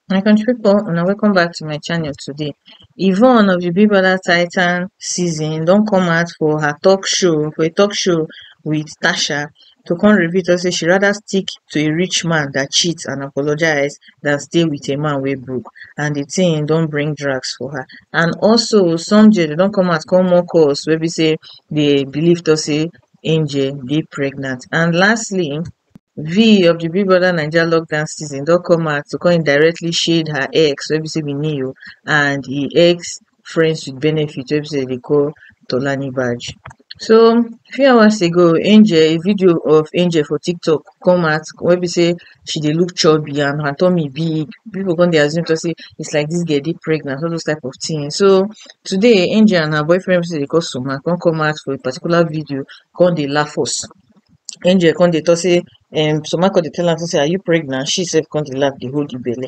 My country people, una welcome back to my channel today. Yvonne of the Big Brother Titan season don come out for her talk show, for a talk show with Tasha. to come reveal to us say she rather stick to a rich man dat cheat and apologise dan stay wit a man wey broke and di tin don bring drags for her and also some gents dem don come out come mock us wey be say dey believe to us say angel dey pregnant and lastly vee of di big brother naija lockdown season don come out to come indirectly shade her ex wey be say be neo and e ex friends with benefit wey be say dem dey call Tolani badge. So few hours ago Angel a video of Angel for tiktok come out wey be say she dey look chubby and her tummy big people come dey assume talk say it's like this girl dey pregnant all those type of thing so today Angel and her boyfriend wey be say dem dey call Suma come come out for a particular video come dey laugh us Angel come dey talk say um Suma come dey tell am say are you pregnant she sef come dey laugh dey hold the belle.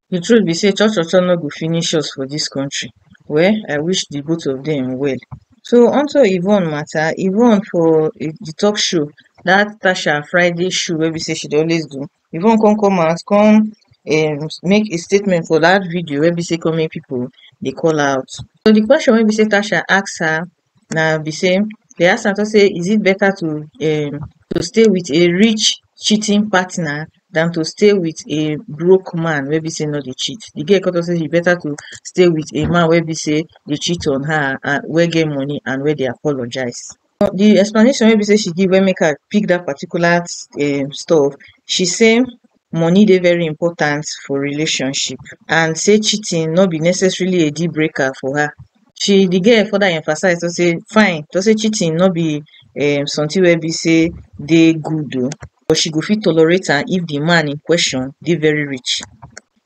The truth be say cho-cho-cho no go finish us for this country. Well, I wish the both of them well. So onto Yvonne matter, Yvonne for eh, the talk show, that Tasha Friday show where we say she always do, Yvonne come come out, come um, make a statement for that video where we say come make people they call out. So the question where we say Tasha asks her, na be sey dey ask am talk sey is it better to um to stay with a rich cheating partner than to stay with a broke man wey be sey no dey cheat. Di girl come talk sey e better to stay with a man wey be sey dey cheat on her and wey get money and wey dey apologise. Di explanation wey be sey she give wey make I pick dat particular um stuff, she say money dey very important for relationship and sey cheating no be necessarily a deal breaker for her. She de girl further emphasize talk sey fine talk sey cheating no be um something wey be sey dey good oo but she go fit tolerate am if de man in question dey very rich.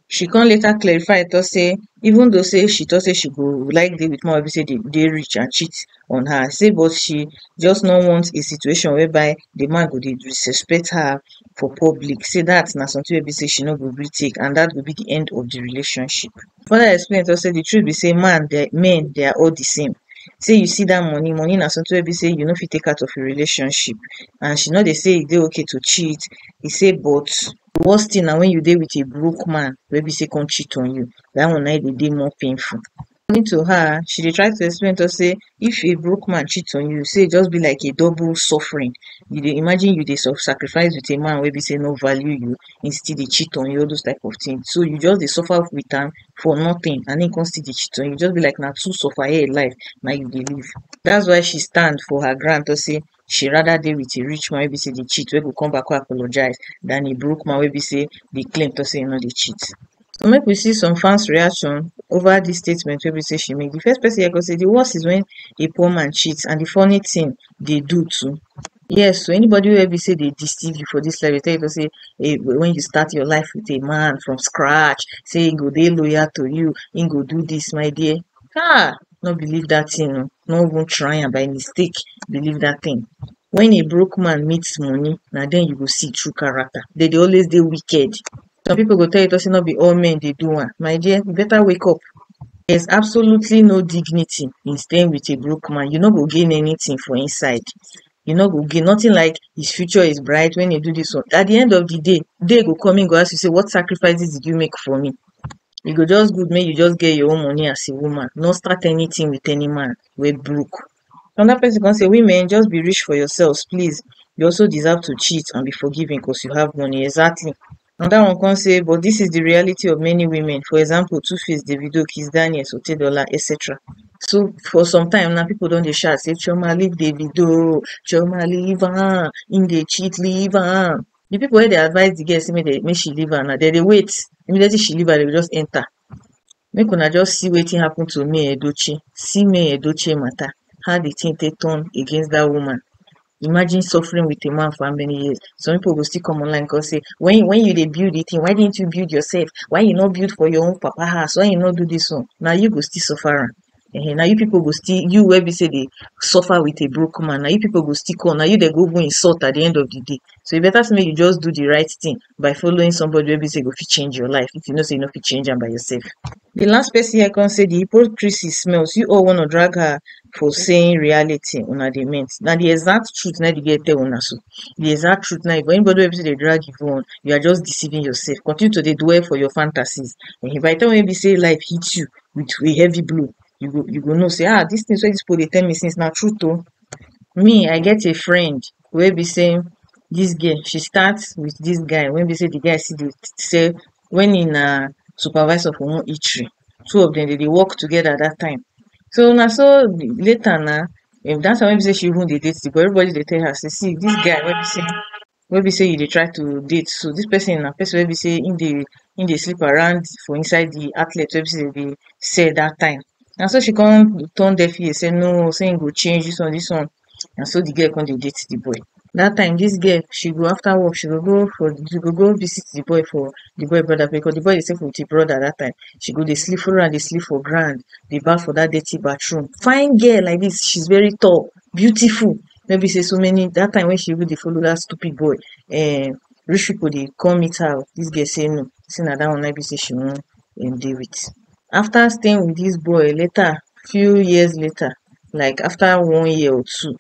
She come later clarify talk sey even though sey she talk sey she go like dey wit man wey be sey dey rich and cheat on her say but she just no want a situation whereby di man go dey disrespect her for public say dat na something wey be say she no go gree take and dat go be di end of di relationship further explain tok say di truth be say man dem men dem are all di same say you see dat money, money na something wey be say you no fit take out of a relationship and she no dey say e dey okay to cheat e say but di worst thing na when you dey with a broke man wey be say come cheat on you dat one na im dey dey more painful According to her, she dey try to explain to us say if a broke man cheat on you, say e just be like a double suffering. You dey imagine you dey self sacrifice with a man wey be say no value you, he still dey cheat on you, all those type of things. So you just dey suffer with am for nothing and he come still dey cheat on you. Just be like na two suffer here life na you dey live. That's why she stand for her ground to say she rather dey wit a rich man wey be say dey cheat wey go come back come apologise dan a broke man wey be say dey claim tok say e no dey cheat so make we see some fans reaction over dis statement wey be say she make di first pesin here tok say di worst is wen a poor man cheat and di funny tin dey do too yes so anybody wey be say dey deceive you for dis life dey tell you tok say wen you start your life wit a man from scratch say e go dey loyal to you im go do dis my dear um no believe dat tin oo no even try am by mistake believe dat tin wen a broke man meet moni na den you go see true character dem dey always dey wicked some people go tell you sey no be all men dey do am my dear you better wake up there is absolutely no dignity in staying with a broke man you no go gain anytin for inside e no go gain nothing like his future is bright when he do this one at the end of the day day go come him go ask you say what sacrifices did you make for me e go just good make you just get your own money as a woman no start anything with any man wey broke another person come say women just be rich for yourselves please you also deserve to cheat and be forgiven because you have money exactly Anoda one come say but dis is di reality of many women for example two face davido kizz daniel otedola etc so for some time na pipo don dey shout say chioma leave davido chioma leave am im dey cheat leave am di pipo wey dey advice di girl say make she leave am now dem dey wait immediately she leave am dem go just enta Make una just see wetin happen to May Edochie, see May Edochie matter, how the thing take turn against that woman. Imagine suffering with a man for how many years? Some people go still come online come say, when when you dey build the thing, why didn't you build yourself? Why you no build for your own papa house? Why you no do this one? Na you go still suffer am. um na you pipu go still, you wey be sey dey suffer with a broke man, na you pipu go still call, na you den go even insult at di end of di day. So, e beta sey mey you just do di right tin by following somebody wey be sey go fit change your life, if you know sey you nor fit change am by yourself. Di last person here kon sey di hypocrisy smells, you all wanna drag her for saying reality una dey meant, na di exact truth nai di girl tell una so, di exact truth nai, but anybody wey be sey dey drag e own, you are just deceiving yourself, continue to dey dwell for your fantasies, um by di time wey be sey life hit you, with a heavy blow you go you go know sey ah dis things wey dis people dey tell me since na truth oh me I get a friend wey be sey dis girl she start with dis guy wey be sey de guy still dey sell when he na supervisor for one eatery two of dem dem dey work together dat time so na so later na dat time wey be sey she even dey date de boy everybody dey tell her sey see dis guy wey be sey wey be sey you dey try to date so dis person na person wey be sey him dey him dey sleep around for inside the outlet wey be sey dem dey sell that time na so she come turn deaf ear sey no sey him go change this one this one na so the girl come dey date the boy that time this girl she go after work she go go for the she go go visit the boy for the boy brother place because the boy dey stay with him brother that time she go dey sleep follow am dey sleep for ground dey baff for that dirty bathroom fine girl like this she's very tall beautiful wey be sey so many dat time wey she even dey follow dat stupid boy um rich pipo dey come meet her oh, dis girl sey no sey na dat one naim be sey she wan um dey with. After staying with dis boy later few years later like after one year or two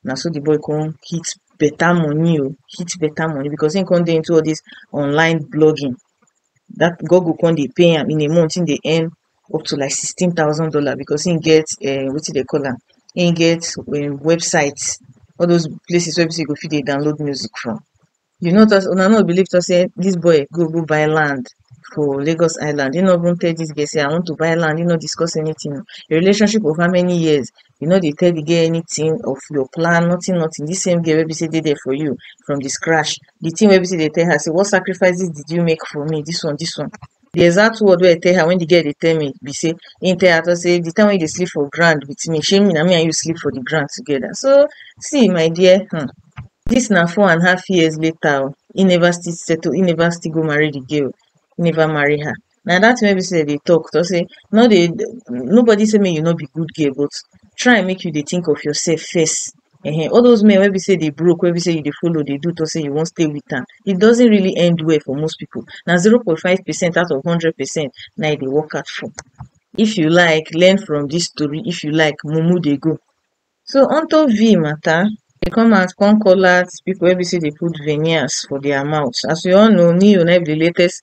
na so di boy kon hit beta money oh, hit beta money because e kon dey into all dis online blogging, dat google kon dey pay am in a month e dey earn up to like sixteen thousand dollar because him get um wetin dem dey call am him get um website all those places wey be sey you go fit dey download music from you know just una no go believe talk sey this boy go go buy land for Lagos island him no even tell this girl sey I want to buy land him no discuss anything o the relationship of how many years you no dey tell the girl anything of your plan nothing nothing this same girl wey be sey dey there for you from the scratch the thing wey be sey you dey tell her sey what sacrifices did you make for me this one this one di exact word wey I tell her wen di girl dey tell me be sey im tell her talk sey di time wey you dey sleep for ground wit me shey na me and you sleep for di ground togeda so see my dear um dis na four and half years later oh im never still settle im never still go marry di girl im never marry her na dat tin wey be sey dem dey talk talk sey nor dey nobody sey make you nor be good girl but try make you dey tink of yoursef first um all those men wey be sey dey broke wey be sey you dey follow dey do talk sey you wan stay with am e doesn't really end well for most people na zero point five percent out of hundred percent na e dey work out for if you like learn from this story if you like mumu dey go so unto V matter e come out come call out people wey be sey dey put veneers for their mouth as we all know Neo na im be the latest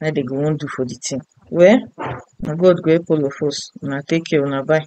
na im dem go wan do for the thing well na God go help all of us una take care una bye